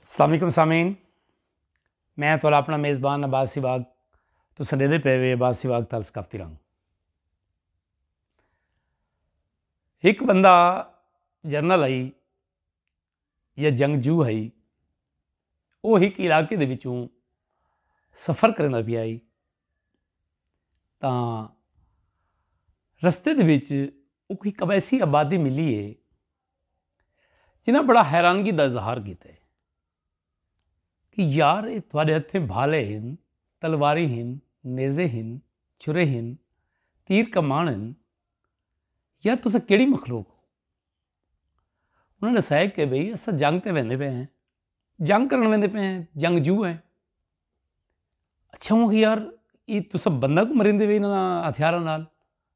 السلام علیکم سامعین میں تھوڑا اپنا میزبان عباس سی باغ تو سڈے دے پے وے عباس سی باغ تال ثقافتی رنگ ایک بندہ جرنل آئی یا جنگ جو آئی وہ ایک علاقے دے وچوں سفر کرنے دا بھی آئی تاں رستے دے وچ وہ کوئی قبیسی آبادی ملی ہے جنہاں بڑا حیرانگی دا اظہار کیتا ہے کہ یار اے تہاڈے ہتھیں بھالے ہن، تلواریں ہن، نیزے ہن، چھرے ہن، تیر کمان ہن، یار تساں کیڑی مخلوق ہو؟ انہاں ڈسایا کہ بھئی اساں جنگ تے ویندے پئے ہیں، جنگ کرن ویندے پئے ہیں، جنگ جو ہیں۔ اچھا ہوں کہ یار اے تساں بندہ کوں مریندے پئے انہاں ہتھیاراں نال۔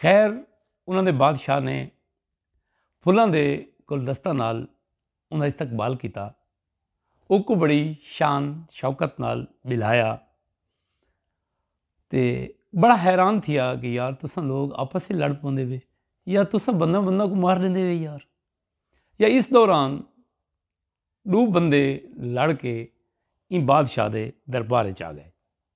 خیر انہوں نے بادشاہ نے فلاں دے گلدستہ نال انہاں استقبال کیتا اوکو بڑی شان شوکت نال بلایا تے بڑا حیران تھیا کہ یار تساں لوگ آپس سے لڑ پوندے وے یا تساں بندہ بندہ کو مار لیندے وے یار یا اس دوران دو بندے لڑ کے ان بادشاہ دے دربار چاہ گئے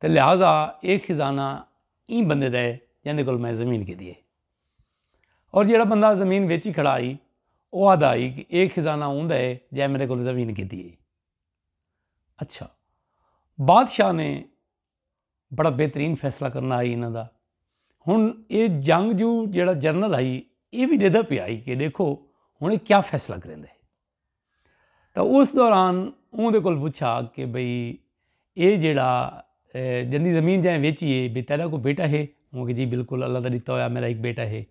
تے لہذا ایہ خزانہ ایں بندے دا ہے جیندے کول میں زمین گھدی ہئی۔ اور جیہڑا بندہ زمین ویچی کھڑا ہئی او آہدا ہئی کہ ایہ خزانہ اوندا ہے جیں میڈے کول زمین گھدی ہئی۔ اچھا بادشاہ نے بڑا بہترین فیصلہ کرنا ہئی انہاں دا۔ ہن ایہ جنگجو جیہڑا جنرل ہئی ایہ وی ڈیدھا پیا ہئی کہ ڈیکھو ہن ایہ کیا فیصلہ کریندے۔ تاں اس دوران اوندے کول پچھا کہ بھئی اے جیڑھا جندی زمین جائیں ویچی ہے بھئی تیڈا کوئی بیٹا ہے؟ اوکھیا جی بالکل اللہ دا ڈتا ہویا میڈا ہک بیٹا ہے۔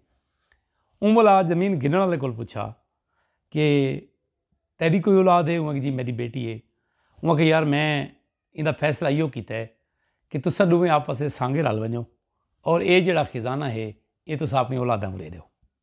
اوں بھلا زمین گھنن آلے کول پچھا کہ تیڈی کوئی اولاد ہے؟ اوکھیا جی میڈی بیٹی ہے۔ اوکھیا یار میں ایندا فیصلہ ایو کیتا ہے کہ تساں ڈوویں آپس اچ سانگے رل ونجو اور اے جیڑھا خزانہ ہے اے تساں اپنی اولاداں کوں ڈے ڈیو۔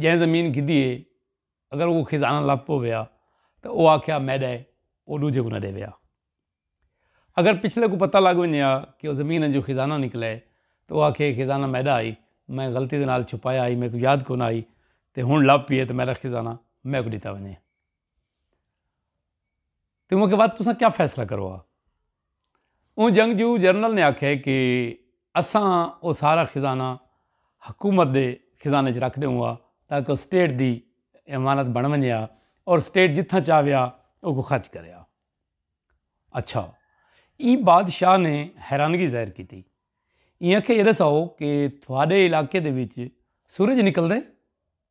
جیں زمین گھدی ہے اگر او خزانہ لب پویا تے او آکھیا میڈا ہے او ڈوجھے کوں نہ ڈیویا۔ اگر پچھلے کوں پتہ لگ ونجے ہا کہ او زمین انجو خزانہ نکلا ہے تے او آکھے خزانہ میڈا ہئی میں غلطی دے نال چھپایا ہئی میکوں یاد کونا ہئی تے ہن لب پیے تے میڈا خزانہ میکوں ڈتا ونجے۔ تو انہوں کے بعد تساں کیا فیصلہ کرو آ اون جنگ جو جرنل نے آکھے کہ اساں او سارا خزانہ حکومت دے خزانے چ رکھ دیوں آ تاکہ او سٹیٹ دی امانت بن ونجے آ اور سٹیٹ جتھاں چاہوے آ او کو خرچ کرے آ اچھا ای بادشاہ نے حیرانگی ظاہر کیتی ای آکھے یہ دساؤ کہ تھوڑے علاقے دے وچ سورج نکل دے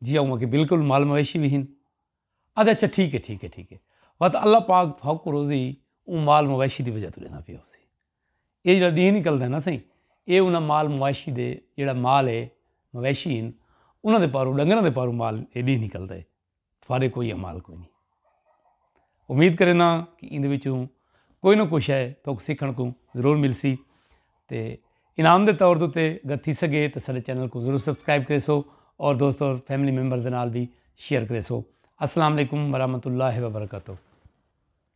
جی اوہاں کے بالکل مال مویشی وی ہن۔ آدھے اچھا ٹھیک ہے ٹھیک ہے ٹھیک ہے وت اللہ پاک تھا کو روزی اوں مال مویشی دی وجہ تو لینا پیا ہو سی۔ اے جڑا ڈیہہ نکل دے نا سائیں اے انہاں مال مویشی دے جڑا مال ہے مویشی ہن انہاں دے پاروں ڈنگراں دے پاروں مال اے ڈیہہ نکل دے تھوڑے کوئی مال کوئی نہیں۔ امید کرینداں ہاں کہ ایندے وچوں کوئی نہ کوئی شے تہاکوں سیکھݨ کوں ضرور ملسی تے انعام دے طور تے اگر تھی سگے تے سارے چینل کو ضرور سبسکرائب کریسو اور دوست اور فیملی ممبر دے نال بھی شیئر کریسو السلام علیکم ورحمۃ اللہ وبرکاتہ